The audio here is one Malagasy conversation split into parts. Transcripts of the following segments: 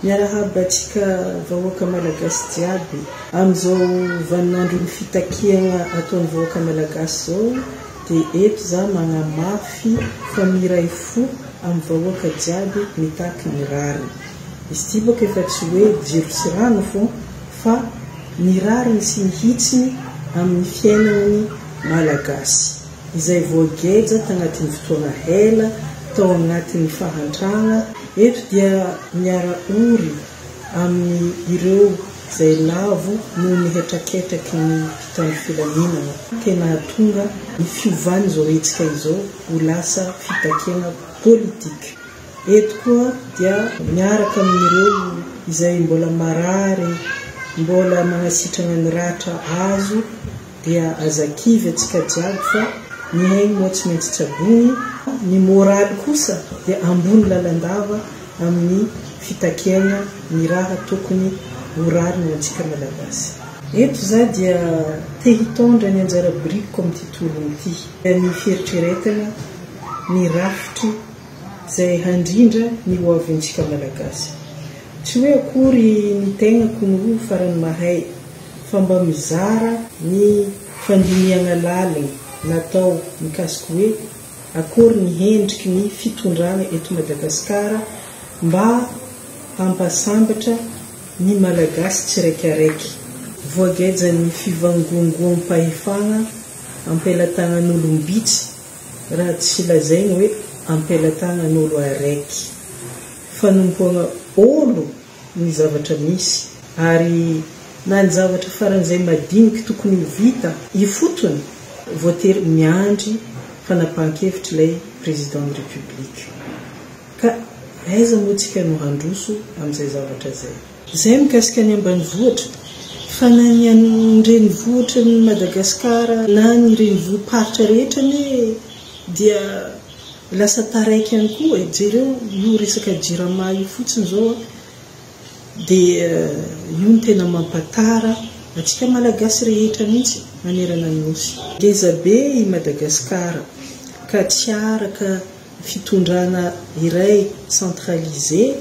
Miarahaba antsika vahoaka malagasy jiaby. Amin'izao vaninandron'ny fitakiagna ataon'ny vahoaka malagasy izao dia eto za magnamafy fa miray fo amin'ny vahoaka jiaby mitaky ny rariny. Izy ty bôka efa tsy hoe jiro sy rano fô fa ny rariny sy ny hitsiny amin'ny fiainagna ny malagasy. izay voageja tanatin'ny fotoana ela tao anatin'ny fahantrana, eto dia miara-ory amin'ny ireo izay lavo noho ny hetraketraky ny mpitandro filaminana, tena hahatonga ny fiovan'izao hetsika izao ho lasa fitakiana politika. Eto koa dia miaraka amin'ireo izay mbola marary, mbola manasitrana ny ratra azo, Dia aza kivy atsika jiaby fa ny ainy moa tsy maintsy tsaboiny, ny moraly kosa dia ambony lalandava amin'ny fitakiaina ny raha tokony ho rariny ho antsika Malagasy. Eto za dia te hitondra ny anjara birikiko amin'ity tolona ity, ny fieritreretana ny rafitry zay handrindra ny ho avintsika Malagasy. Tsy hoe akory ny tegnako no farany mahay, fa mba mizara ny fandinihana lalina natao mikasika hoe akory ny hendriky ny fitondrana eto Madagasikara mba hampasambatra ny Malagasy tsiraikaraiky. Voagejan'ny fivangongoam-pahefana am-pelatanan'olom-bitsy raha tsy lazaina hoe am-pelatanan'olo araiky. Fanompoana olo ny zavatra misy ary na ny zavatra faran'izay madiniky tokony ho vita ifotony, voatery miandry fanapahan-kevitr' ilay Président ny République. Ka aiza moa tsika no handroso amin'izay zavatra izay? Izay mikasika ny ambanivohitra, fa na ny an' ny renivohitry ny Madagasikara na ny renivohi-paritra rehetra anie dia. Lasa taraiky ihany koa e, jereo io resaka jirama io fotsiny zao a, dia io no tena mampatara antsika Malagasy rehetra mihitsy manerana ny Nosy. Ngeza be i Madagascar ka tsy araka fitondrana iray centralisé.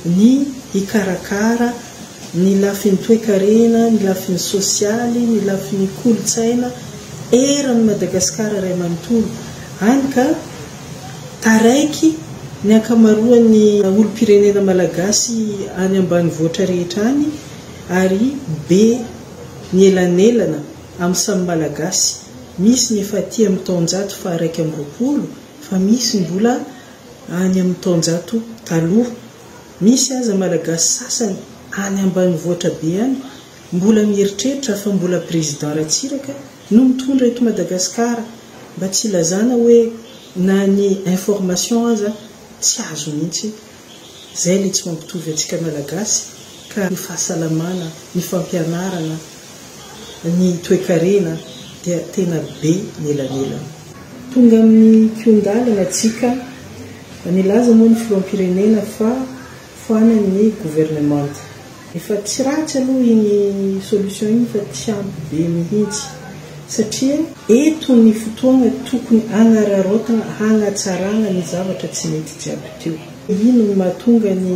ny hikarakara ny lafiny toekarena, ny lafiny sosialy, ny lafiny kolontsaina eran'i Madagasikara iray manontolo, hany ka taraiky ny ankamaroan'ny olom-pirenena malagasy any ambanivoatra rehetra any ary be ny elanelana amin'ny samy Malagasy, misy ny efa aty amin'ny taonjato faha iraika amby roapolo fa misy mbola. Any amin'ny taonjato taloha, misy aza Malagasy sasany any ambanivohitra be any mbola mieritreritra fa mbola Président Ratsiraka no mitondra eto Madagasikara, mba tsy ilazana hoe na ny information aza tsy azo mihitsy. Izay ilay tsy mampitovy antsika Malagasy ka ny fahasalamana, ny fampianarana, ny toekarena dia tena be ny elanelana. Tonga amin'ny kihon-dalana isika. Nilaza moa ny filoham-pirenena fa ho any amin'ny governemanta. Efa tsy ratsy aloha iny solution iny fa tsy ampy be mihitsy satria eto ny fotoana tokony hanararaotana hanatsarana ny zavatra tsy nety jiaby teo. Ino no mahatonga ny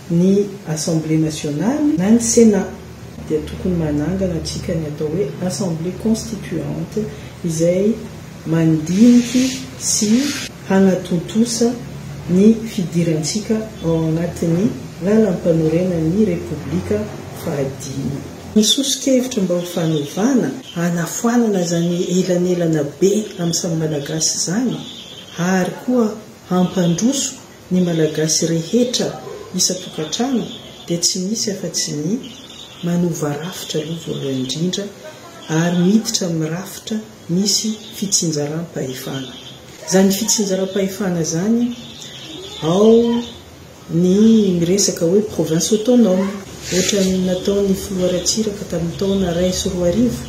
Ny Assemblée Nationale na ny Sénat dia tokony manangana antsika ny atao hoe Assemblée Constituante izay mandiniky sy hanatontosa ny fidirantsika ao anatin'ny Lalampanorenan'ny Repoblika fahadimy. Ny soso-kevitra mba ho fanovana, hanafoanana izany elanelana be amin'ny samy Malagasy izany ary koa hampandroso Ny Malagasy rehetra isan-tokantrano dia tsy misy afa-tsy ny manova rafitra aloha voalohany indrindra ary miditra amin'ny rafitra misy fitsinjaram-pahefana. Izany fitsinjaram-pahefana izany ao ny miresaka hoe province autonome, ohatran'ny nataon'ny filoha Ratsiraka tamin'ny taona iray sy roa arivo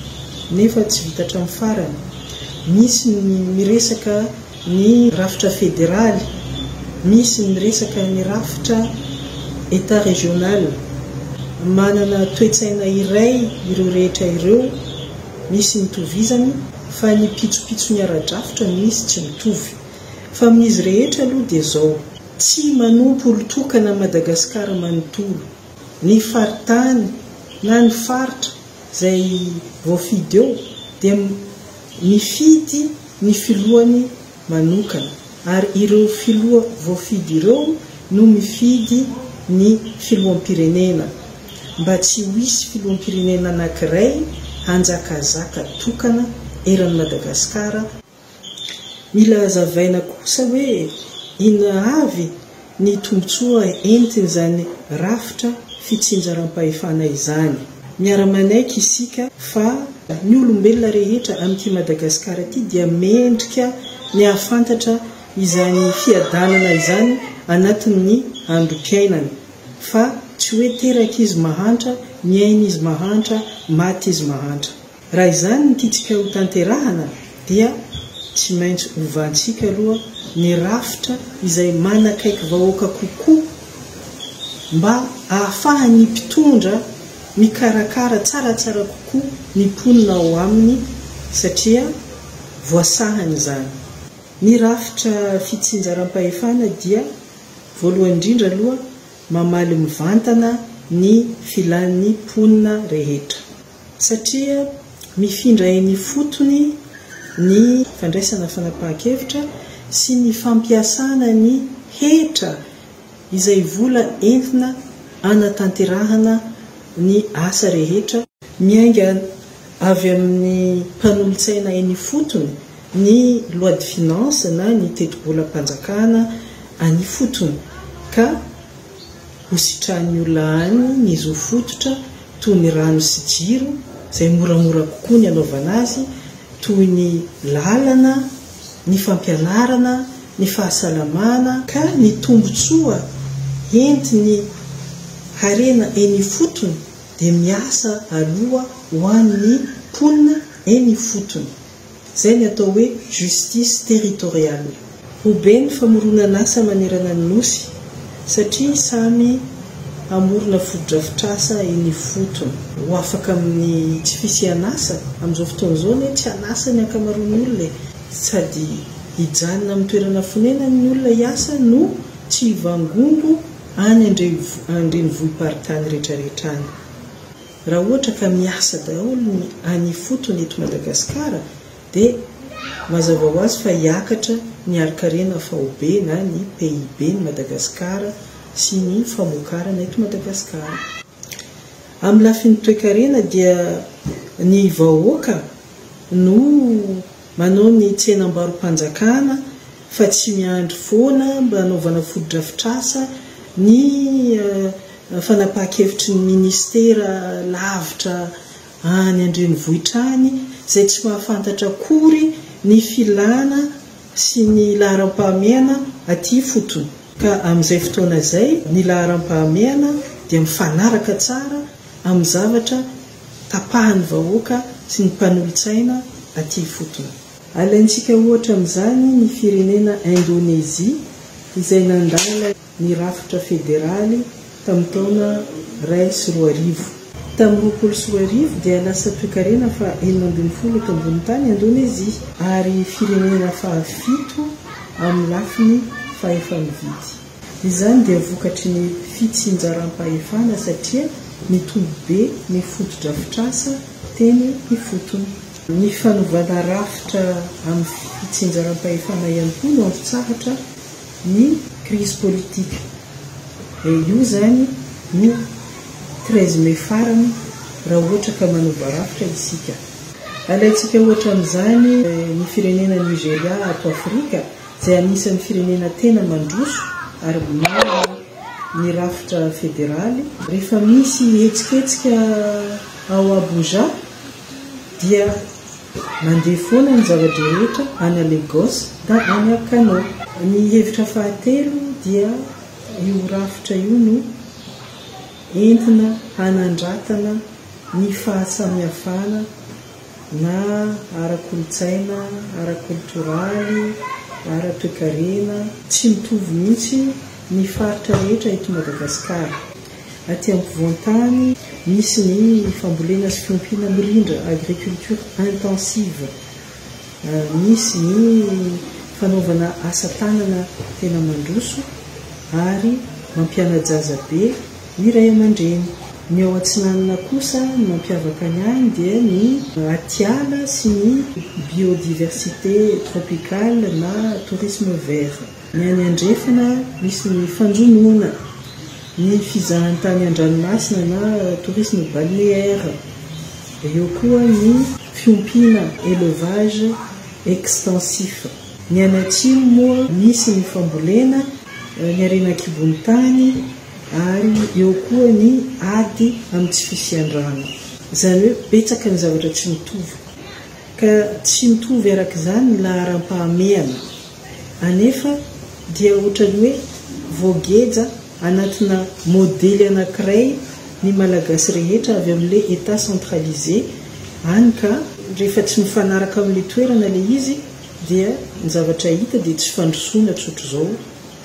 nefa tsy vita hatramin'ny farany. Misy ny miresaka. Ny rafitra federaly, misy ny resaka ny rafitra Etat régional. Manana toe-tsaina iray ireo rehetra ireo, misy ny itovizany fa ny pitsopitsony ara-drafitra no misy tsy mitovy. Fa amin'izy rehetra aloha dia izao, tsy manompo olon-tokana Madagascar manontolo. Ny faritany na ny faritra izay voafidy eo dia. Nifidy ny filohany manokana ary ireo filoha voafidy ireo no mifidy ny filoham-pirenena mba tsy ho hisy filoham-pirenena anankiray hanjakazaka tokana eran'i Madagasikara, mila hazavaina kosa hoe inona avy ny tombontsoa entin'izany rafitra fitsinjaram-pahefana izany. Miara-manaiky isika fa ny olombelona rehetra amin'ity Madagasikara ity dia mendrika ny hahafantatra izany fiadanana izany anatin'ny androm-piainany, fa tsy hoe terak'izy mahantra, niain'izy mahantra, matin'izy mahantra. Raha izany no tiantsika ho tanterahana dia tsy maintsy hovantsika aloha ny rafitra izay manakaiky vahoaka kokoa mba ahafahan'ny mpitondra mikarakara tsaratsara kokoa ny mponina ao aminy satria voasahany izany. Ny rafitra fitsinjaram-pahefana dia voalohany indrindra aloha mamaly mivantana ny filan'ny mponina rehetra. satria mifindra eny ifotony ny fandraisana fanapahan-kevitra sy ny fampiasana ny hetra izay vola entina hanatanterahana ny asa rehetra, miainga avy amin'ny mpanolotsaina eny ifotony, ny loi de finances na ny tetibolam-panjakana any ifotony, ka Hositrahin'ny olona any ny zo fototra toy ny rano sy jiro izay moramora kokoa ny hanaovana azy, toy ny lalana, ny fampianarana, ny fahasalamana, ka ny tombontsoa entin'ny harena eny ifotony dia miasa aloha ho an'ny mponina eny ifotony, Izay ny atao hoe justice territoriale. Ho be ny famoronan'asa manerana ny Nosy satria samy hamorona fotodrafitrasa eny ifotony. Ho afaka amin'ny tsy fisian'asa, amin'izao fotoana izao anie tsy an'asa ny ankamaroan'ny olona e! Sady hijanona amin'ny toerana fonenany ny olona hiasa no tsy hivangongo any an-drenivohi-paritany rehetrarehetra any. Raha ohatra ka miasa daholo ny any ifotony eto Madagasikara dia mazava ho azy fa hiakatra ny harikarena faobe na ny PIB ny Madagasikara sy ny famokarana eto Madagasikara. Amin'ny lafiny toekarena dia ny vahoaka no Manao ny tsenam-barom-panjakana fa tsy miandry foana mba hanaovana fotodrafitrasa ny fanapahan-kevitry ny minisitera lavitra any an-drenivohitra any izay tsy mahafantatra akory ny filàna sy ny laharam-pahamehana aty ifotony ka amin'izay fotoana izay ny laharam-pahamehana dia mifanaraka tsara amin'ny zavatra tapahan'ny vahoaka sy ny mpanolotsaina aty ifotony. Alaintsika ohatra amin'izany ny firenena Indonezia izay nandala ny rafitra federaly tamin'ny taona iray sy roa arivo. Tamin'ny roapolo sy roa arivo dia lasa toekarena faha enina ambin'ny folo eto ambony tany Indonezia ary firenena faha fito amin'ny lafiny fahefa-mividy. Izany dia vokatry ny fitsinjaram-pahefana satria nitombo be ny fotodrafitrasa teny ifotony. Ny fanovana rafitra amin'ny fitsinjaram-pahefana ihany koa no antotsahatra ny krizy politika. Dia io izany no treize mai farany raha ohatra ka manoba rafitra isika. Alaintsika ohatra amin'izany ny firenena Nigeria ato Afrika. izay anisan'ny firenena tena mandroso ary miaro ny rafitra federaly. Rehefa misy hetsiketsika ao Abuja dia mandeha foana ny zava-drehetra any Lagos na any Kano. Ny hevitra fahatelo dia io rafitra io no entina hanandratana ny fahasamihafana. na ara-kolontsaina, ara-koltoraly, ara-toekarena, tsy mitovy mihitsy ny faritra rehetra eto Madagasikara. Aty ampovoan-tany, misy ny fambolena sy fiompiana mirindra, agriculture intensive, misy ny fanaovana asa tanana tena mandroso ary mampiana-jaza be, Ny ray aman-dreny. Ny ao atsinanana kosa ny mampiavaka ny any dia ny atiala sy ny biodiversite tropicale na tourisme vert. Ny any andrefana misy ny fanjonoana, ny fizahantany an-dranomasina na tourisme balnéaire, eo koa ny fiompiana, élevage extensif. Ny any atsimo moa misy ny fambolena, ny harena an-kibon'ny tany, Ary eo koa ny ady amin'ny tsy fisian-drano. Izany hoe betsaka ny zavatra tsy mitovy, ka tsy mitovy araka izany ny laharam-pahamehana, anefa dia ohatran'ny hoe voageja anatina modely anankiray ny Malagasy rehetra avy amin'ilay Etat centralisé any ka, rehefa tsy mifanaraka amin'ilay toerana ilay izy dia ny zavatra hita dia tsy fandrosoana tsotr'izao,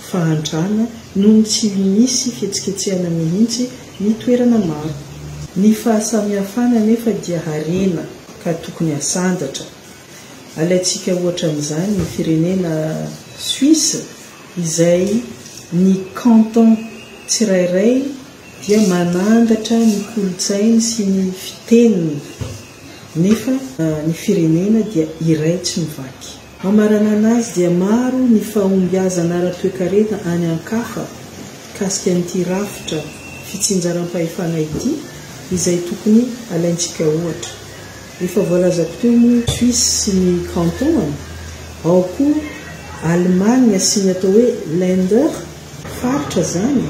fahantrana noho ny tsy misy fihetsiketsehana mihitsy ny toerana maro. Ny fahasamihafana anefa dia harena ka tokony hasandratra. Alaintsika ohatra amin'izany ny firenena Suisse izay ny canton tsirairay dia manandratra ny kolontsainy sy ny fiteniny nefa ny firenena dia iray tsy mivaky. Hamaranana azy dia maro ny fahombiazana ara-toekarena any an-kafa mikasika an'ity rafitra fitsinjaram-pahefana ity izay tokony alaintsika ohatra. Efa voalazako teo moa i Suisse sy ny Kanton-any, ao koa Allemagne sy ny atao hoe Länder, Faritra izany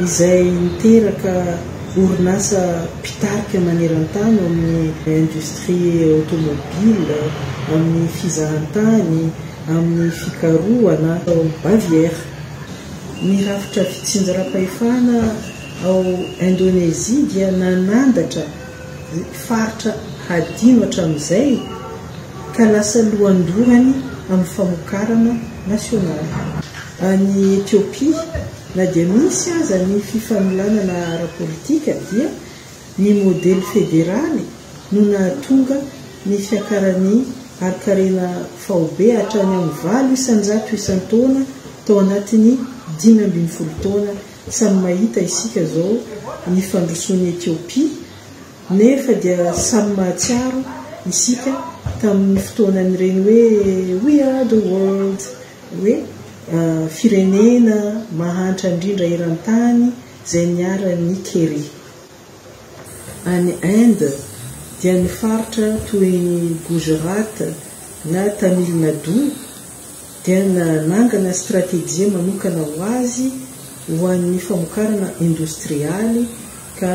izay niteraka orinasa mpitarika maneran-tany ao amin'ny industrie automobile, amin'ny fizahantany, amin'ny fikarohana. Tao Baviera, ny rafitra fitsinjaram-pahefana ao Indonezia dia nanandatra faritra hadino hatramin'izay ka lasa lohandohany amin'ny famokarana nasionaly. Any Etiopia, na dia misy aza ny fifanolanana ara-politika dia ny modely federaly no nahatonga ny fiakaran'ny harin-karena faobe hatrany amin'ny valo isan-jato isan-taona tao anatin'ny dimy ambin'ny folo taona. Samy mahita isika izao ny fandrosoan'i Etiopia nefa dia samy mahatsiaro isika tamin'ny fotoanan'ireny hoe We are the world! hoe firenena mahantra indrindra eran-tany izay niharan'ny Keri. Any Inde dia ny faritra toy ny Gujarat na Tamil Nadu dia nanangana stratejia manokana ho azy ho an'ny famokarana indostrialy ka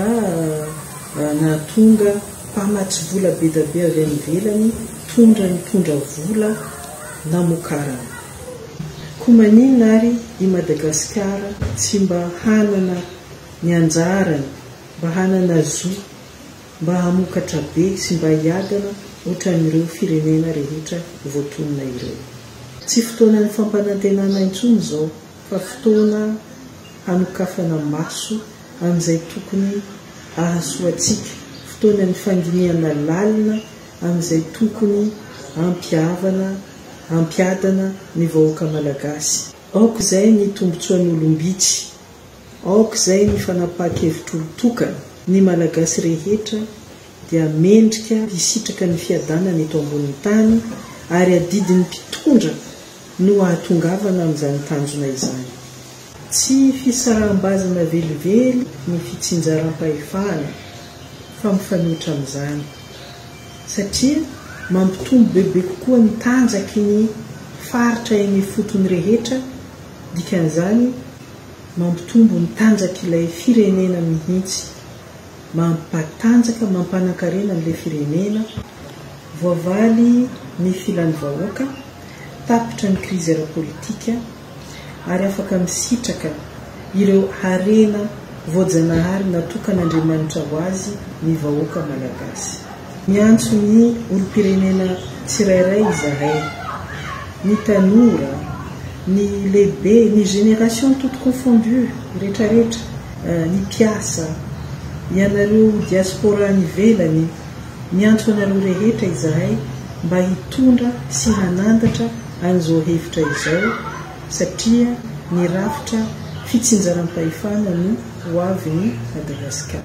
nahatonga mpamatsy vola bedabe avy any ivelany tondra nitondra vola namokarana. Koa maninona ary i Madagasikara tsy mba hanana ny anjarany, mba hanana zo, mba hamokatra be sy mba hiadana ohatran'ireo firenena rehetra voatonona ireo. Tsy fotoanan'ny fampanantenana intsony izao fa fotoana hanokafana maso amin'izay tokony hahasoa antsika, fotoanan'ny fandinihana lalina amin'izay tokony hampihavana, hampiadana ny vahoaka malagasy. Aok'izay ny tombontsoan'olom-bitsy, aok'izay ny fanapahan-kevitr'olon-tokana, ny Malagasy rehetra dia mendrika hisitraka ny fiadanana eto ambonin'ny tany ary adidin'ny mpitondra no hahatongavana amin'izany tanjona izany. Tsy fisaraham-bazana velively ny fitsinjaram-pahefana fa mifanohitra amin'izany, satria mampitombo bebe kokoa ny tanjaky ny faritra eny ifotony rehetra, dikan'izany mampitombo ny tanjak'ilay firenena mihitsy, mampatanjaka, mampanan-karena an'ilay firenena, voavaly ny filan'ny vahoaka, tapitra ny krizy ara-politika. ary afaka misitraka ireo harena voajanahary natokan'Andriamanitra ho azy ny vahoaka Malagasy. Miantso ny olom-pirenena tsirairay izahay, ny tanora, ny lehibe, ny génération toute confondue retraretra, ny mpiasa, ianareo diaspora any ivelany, miantso anareo rehetra izahay mba hitondra sy hanandatra an'izao hevitra izao satria ny rafitra fitsinjaram-pahefana no ho avin'i Madagasikara.